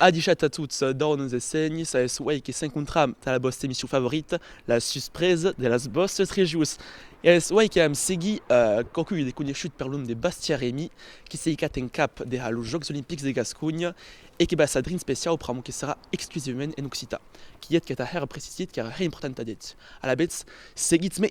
A dichat a tots d'òrn es senhs, es uèi que s'encontram tà la vòsta emission favorita, La suspresa de las vòstes rejos. Es uèi que vam seguir quauqui de coneishut per l'òm de Bastia Remi, que s'ei cat en cap de ha los Jòcs Olimpics de Gasconha e que va sadrin speciau pr'amor que serà exclusivament en occitan. Quiet que tà hèr precisit qu'èra hè importanta d'eth. Alavetz, seguitz-me!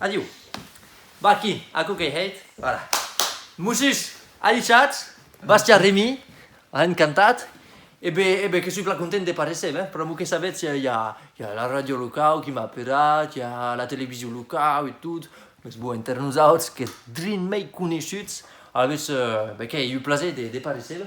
Adiu. Bah aquí, aquò qu'ei hèit. Voilà. Mossus, alichats, Bastia Remy, a encantat. E be, e be, que soi plan content de paréisser, ben, pr'amor que sabetz, i a, i a, i a la ràdio locau qui m'a aperat, i a la television locau e tot, mès bon, enter nosautz, qu'es drin mei coneishuts, alavetz, be, qu'ei eu plaser de, de paréisser,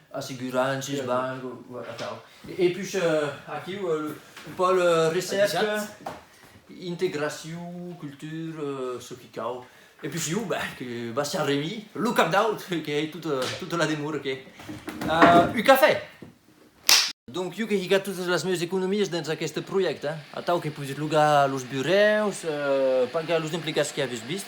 Assegurances, banc, atau. E pus aquiu, un pòl recèrca, integracion, cultura, çò qui cau. E pus iu, ben, que Bastian Remy, lo cap d'aut, que ei tota la demora que. Un cafè! Donc iu que hi gat totas las meus economies dens aqueste projècte, atau que pudis logar los burèus, pagar los emplegats que aves vist,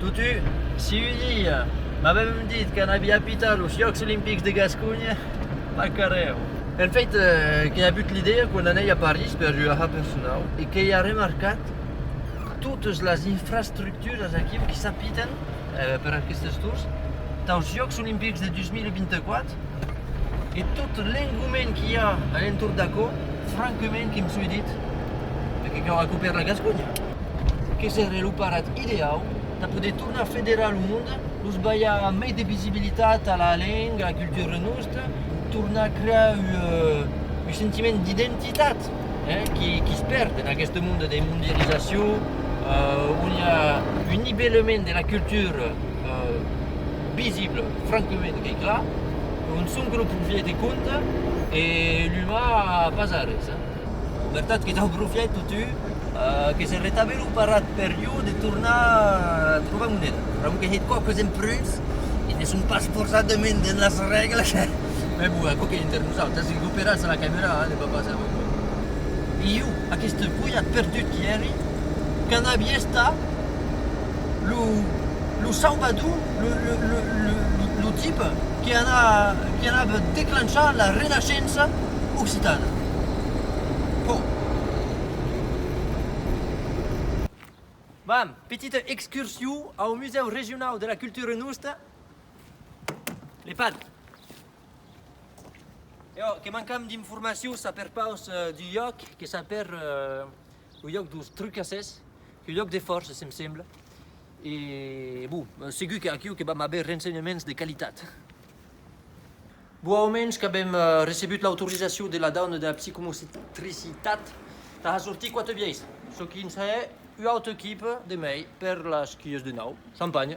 Totu, si un dia m'avèm dit que anavi apitar los Jòcs Olimpics de Gasconha, m'acarèu. En fait, qu'ei avut l'idèa quand anèi a París per ua ha personau e qu'ei arremarcat totes las infrastructuras aquiu que s'apitan per aquestes torns taus Jòcs Olimpics de 2024, e tot l'engoment qu'i a a l'entorn d'aquò, franquement que me soi dit, per que cau acopèr la Gasconha? Que seré lo parat ideau tà poder tornar federar lo monde, los balhar mei de visibilitat a la lenga, a la cultura nosta, tornar crear ua sentiment d'identitat, eh, qui's perd en aqueste monde de mondializacion, on i a un nibelament de la cultura, eh, visible franquement qu'ei clar qu'un soncle profièch de compte e l'umà pas arrés. Vertat que dau profièch totu que se retave lo parat per jo de tornar trobar moneda, raon que hèt quauques empreus que ne son pas forçadament dens las règles, mès bon, aquò qu'ei enter nosautras, si l'operatz a la camera ne va pas èstre bon. E jo, aqueste foiat perdut qui èri, qu'a n'avi estat? lo Salvador, lo tip que anava declenchar la Renaissença occitana. Vam, petita excursion au Musèu Regionau de la Cultura Nosta. Le pad. Eo que mancam d'informacion saper pas du lloc que saper Au lloc dos trucasses, au lloc de forces, em sembla. E, bon, segur qu'aquiu que vam aver rensenhaments de qualitat. Bon, au mens qu'avem recebut l'autorizacion de la dauna de la psicomotricitat tà sortir quatre biais, çò qu'i n'i a ua auta equipa de mai per las quies de nau. Champanha!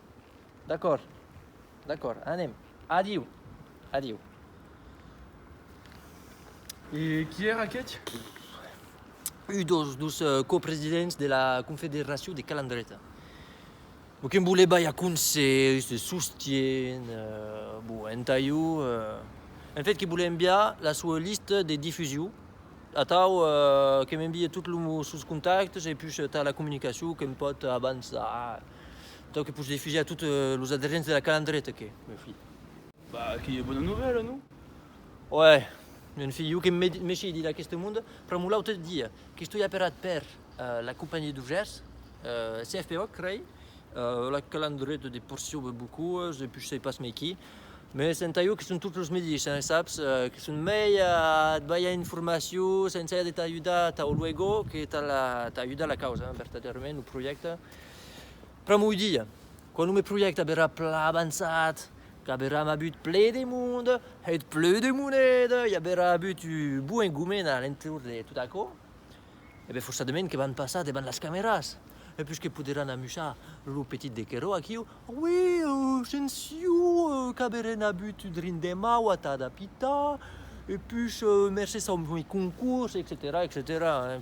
D'acòrd, d'acòrd, anem. Adiu! Adiu! E qui èra aqueth? Un dos dos copresidents de la Confederacion de Calandreta. Lo que'm voleba ja conselhs de sostien, bon, entà jo, en fait, que vole enviar la soa lista de difusion, atau que m'envie tot lo sos contactes e pus tota la comunicacion que'm pòt avançar. Tau que pus defuser a tot los aderents de la calandreta que, meu filh. Bah, que ei bona novèla, non? Uèi, meu filh, jo que m'èshi dit d'aqueste monde, pr'amor l'autre dia qu'estoi aperat per la compagnie d'ouvriers, CFPO, crei, la calandreta de porcion be bocuas e pus sei pas mei qui, me senta jo que son tot los medis, hein, saps, que son mei a te balhar informacion sense aver de t'ajudar tau luego que t'ajudar la causa, hein, vertadèrament, lo projècte. Pr'amor de Dieu, quand me projècte averà plan avançat, qu'averam abut ple de monde, hèt ple de moneda, i averà abut un bon engoment a l'entorn de tot aquò, e ben forçadament que van passar devant las cameras, e pus que poderàn amusar lo petit de Querò aquiu, oui, se'n siu, qu'averèn abut un drin de mau atat a pitar, e pus mercés au concurs, etcetèra, etcetèra.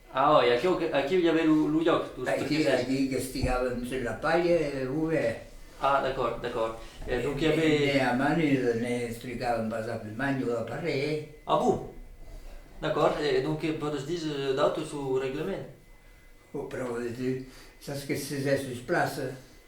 A oi, aquiu, aquiu i avè lo, lo lloc dous Aicí, professors. aicí qu'estigàvem sus la palha e lo vent. Ah, d'acòrd, d'acòrd. E donc i avè. Ne, ne a manus ne explicàvem pas a Plimagn o aparelh. Ah bon! D'acòrd, e donc que pòdes dis d'autre sus lo reglament? Pr'au de tu, sas que se s'es sus plaça.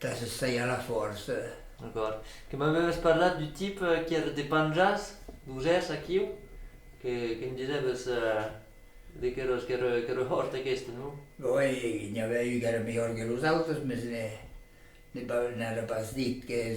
Tà se sajar la fòrça. D'acòrd. Que m'avèves parlat du tip qu'ère de Panjas, d'Usès, aquiu? Que me disèves de queros, qu'ère hòrt aqueste, non? Oi, que n'i avè un qu'ère melhor que los autres, mès n'ère pas dit qu'es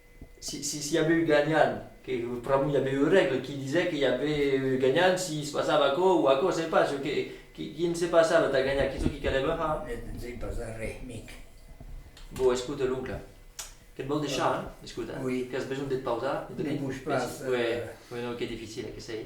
Si i aviu ganhant, que pr'amor i aviu eu règle qui disèt que i aviu eu ganhant si se passava aquò o aquò, se pas, çò que quin se passava tà ganhar, quin çò qui calèva ha. Ne dizèi pas arrè, mic. Bon, escute, l'oncle, que't vòl deishar, hein? Escute, qu'as besonh de te pausar, de dormir? Depús pas. Uèi, uèi, non, qu'es dificile, que sei.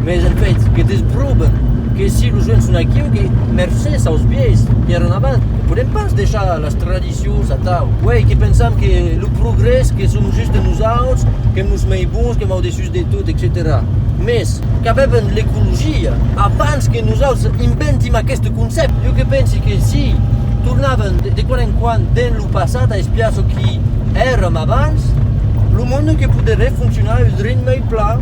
Mes en fait, que te's proben que si los uèlhs son aquiu que mercés aus biais que èran abans, ne podèm pas deishar las tradicions atau. Uèi que pensam que lo progrès que som just nosauts qu'èm los mei bons, qu'èm au dessús de tot, etcetèra. Mes, qu'avèvan l'ecologia abans que nosauts inventim aqueste concèpte. Jo que pensi que si tornàvem de quan en quan dens lo passat a espiar çò qui èram abans, lo monde que poderè foncionar eus ritme plan.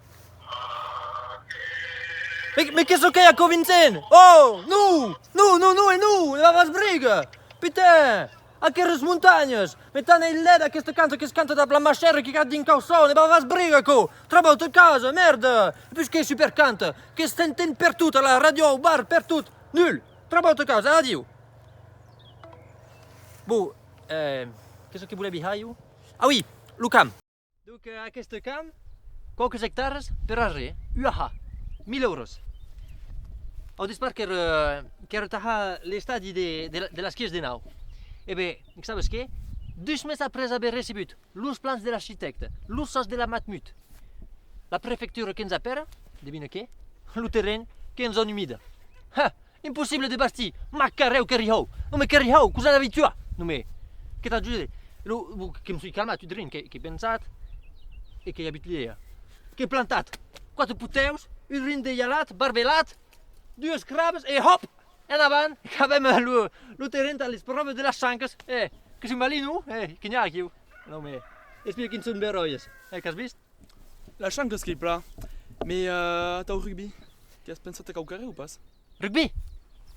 Me que çò qu'ei aquò Vincent? Oh! Non! Non, non, non e non! E la rasbriga! Putain! Aqueres montanhas! Me tan ei lèd aquesta cançon que se canta dab la machèra que gat dins cauçon! E la rasbriga aquò! Trabau tot casa! Mèrda! E pus qu'ei super canta! Que s'enten per tot, a la ràdio, au bar, per tot! Nul! Trabau tot casa! Adiu! Bon, eh... que çò que volèvi hair jo? Ah oui! Lo camp! Donc aqueste camp, quauques ectares per arrés, uaha! 1000 euros. Au despart qu'èr qu'èr entara l'estadi de de las quies de nau. E be, sabes qué? Dus mes après aver recebut los plans de l'architècte, los sòs de la Matmut, la prefectura que'ns apèra, devina qué? Lo terren que'ns ònumida! Ha! Impossible de bastir! M'ac carrèu que rihòu! Non me que rihòu! Cosa n'avi tuat? Non me. Que t'ajude? Lo, lo que me soi calmat tot drin, qu'ai pensat e qu'ai abit l'idèa. Qu'ai plantat quatre putèus, un rin de jalat, barbelat, dues crabes e hòp! En avant, qu'avèm lo, lo terren tà les pròves de las chancas! Eh! Que soi malino? Eh! Que n'ai aquiu? Non me. Espia quin son beròies! Eh, qu'as vist? La chance qu'es qu'ei pla. Me atau rugbi, que as pensat a quauquarre o pas? Rugbi?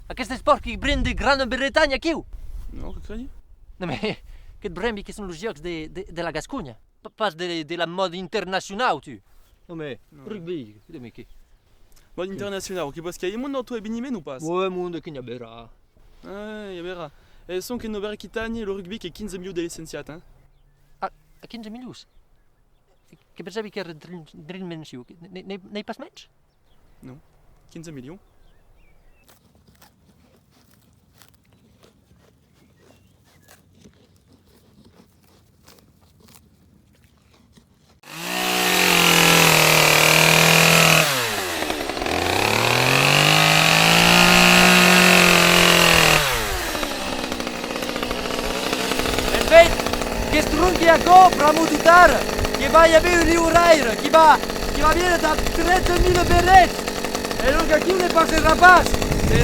Aqueste espòrt que brem de Grana Bretanha aquiu? Non, que crei? Non me que et brembi que son los jòcs de la Gasconha, pas de la mòda internacionau tu. Non me rugbi, non me que. Mòda internacionau, que vòs qu'ei mon auto eveniment o pas? Ue monde que n'i berrà. Ai, i berrà. E sonque en Nòva Aquitània lo rugbi qu'ei 15 milius de licenciats, hein? A 15 milius? Que per sabi qu'ère d'rin mensiu, n'ei pas mens? Non, 15 milions. En fait, qu'es tronque aquò pr'amor de tard que va i aver un liuraire qui va, qui va vier tà trètre mille berrets! E donc aquiu ne passera pas! E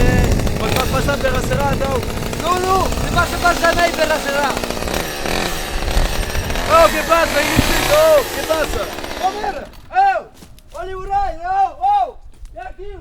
vos fas passar per acerà, atau? Non, non, ne passe pas jamai per acerà! Au, que passa, Illustrita, au, que passa? Au, mère! Au! Au liuraire, au! Au! Ve aquiu!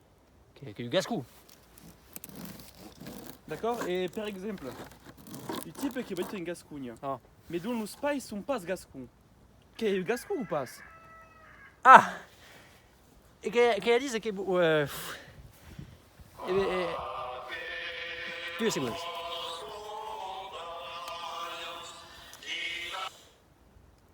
Que que gascou. D'accord e per exemple u tipe que abita en gasconha ah. me don los pais son pas gascon que eu gascon ou pas ah e que que dise que uh, eh, e, e, tu es segons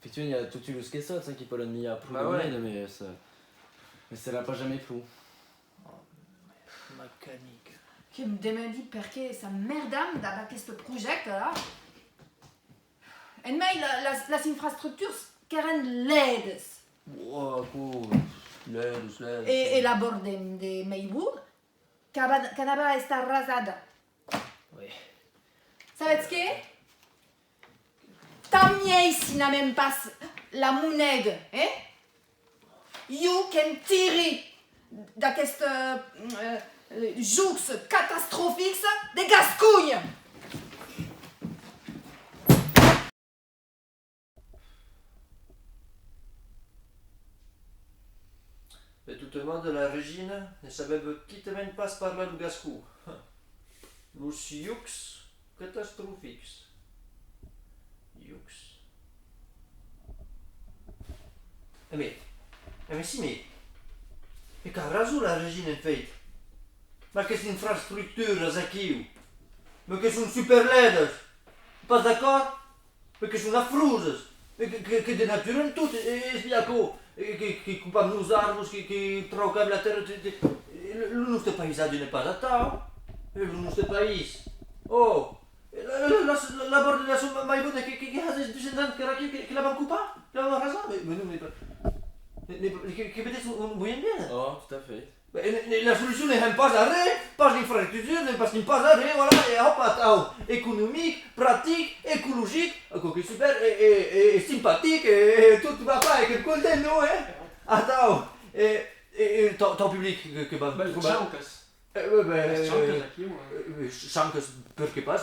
Efectivament, i a toti los quesots, hein, qui pòdon milhar pro de mièg, mes mes se la pas jamai pro. Oh, mes macanic. Que me demandi perqué sa mèrda me dab aqueste projècte, là. En mai, las las infrastructures qu'èran lèdes. Ua, aquò, lèdes, lèdes. E e la bord de de Maywood, qu'aba qu'anava a estar rasada. Oui. Sabètz qué? Tant miei si n'amèm pas la moneda, hè? Iu que'm tiri d'aqueste jocs catastrofics de Gasconha! De totes modes, la Regina ne sabèva quitament pas parlar lo gascon. Los jocs Catastrofics. Iucs. E me, e me si me, e qu'a rason la regina en fèit, mas qu'es infrastructuras aquiu, me que son superlèdas, pas d'acòrd? Perque son afroses, que denaturen tot, es bia aquò, que copam los arbres, que traucam la tèrra, lo nòste païsatge n'es pas atau, es lo nòste país, oh, la bòrda de la son mai bòta que has es 200 ans qu'èra aquiu que l'avèm copat, que l'avèm arrasat, mais non, que vedètz ont voiem vier? Oh, tot a fait. La solucion ne hèm pas arrè, pas d'infrastructures, ne bastim pas arrè, e voilà, e òp, atau, economic, practic, ecologic, quauque super, e simpatic, e tot va pas, e que'm content, non, eh? Atau, e tau public, que vam trobar. Bèlles chanques. Bèlles chanques, aquí, moi. Chanques, perqué pas?